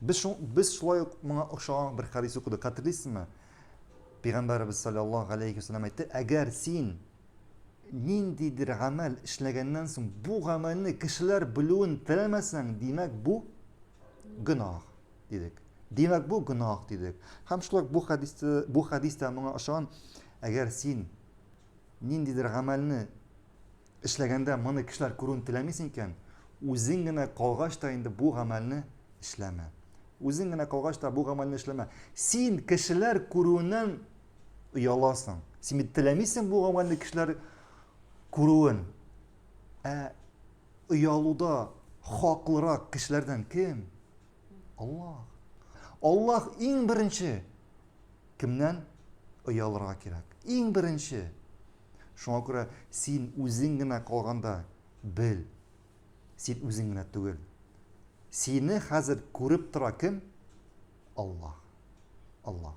Без, шул, без шулай ук моңа охшаган бер хадис укыдык. Хәтерлисезме? Пәйгамбәребез саллаллаһу алейхи вәсәлләм әйтте, әгәр син ниндидер гамәл эшләгәннән соң бу гамәлне кешеләр белүен теләмәсәң, димәк бу гөнаһ, дидек. Димәк бу гөнаһ, дидек. Һәм шулай бу хәдистә, бу хәдистә моңа охшаган, әгәр син ниндидер гамәлне Эшләгәндә моны кешеләр күрүен теләмисең икән, үзең генә калгач та инде бу гамәлне эшләмә. Үзең генә калгач та бу гамәлне эшләмә. Син кешеләр күрүеннән ояласың. Син бит теләмисең бу гамәлне кешеләр күрүен. Ә оялуда хаклырак кешеләрдән кем? Аллаһ. Аллаһ иң беренче кемнән оялырга кирәк? Иң беренче Шуңа күрә син үзең генә калганда, бел, син үзең генә түгел. Сине хәзер күреп тора кем? Аллаһ. Аллаһ.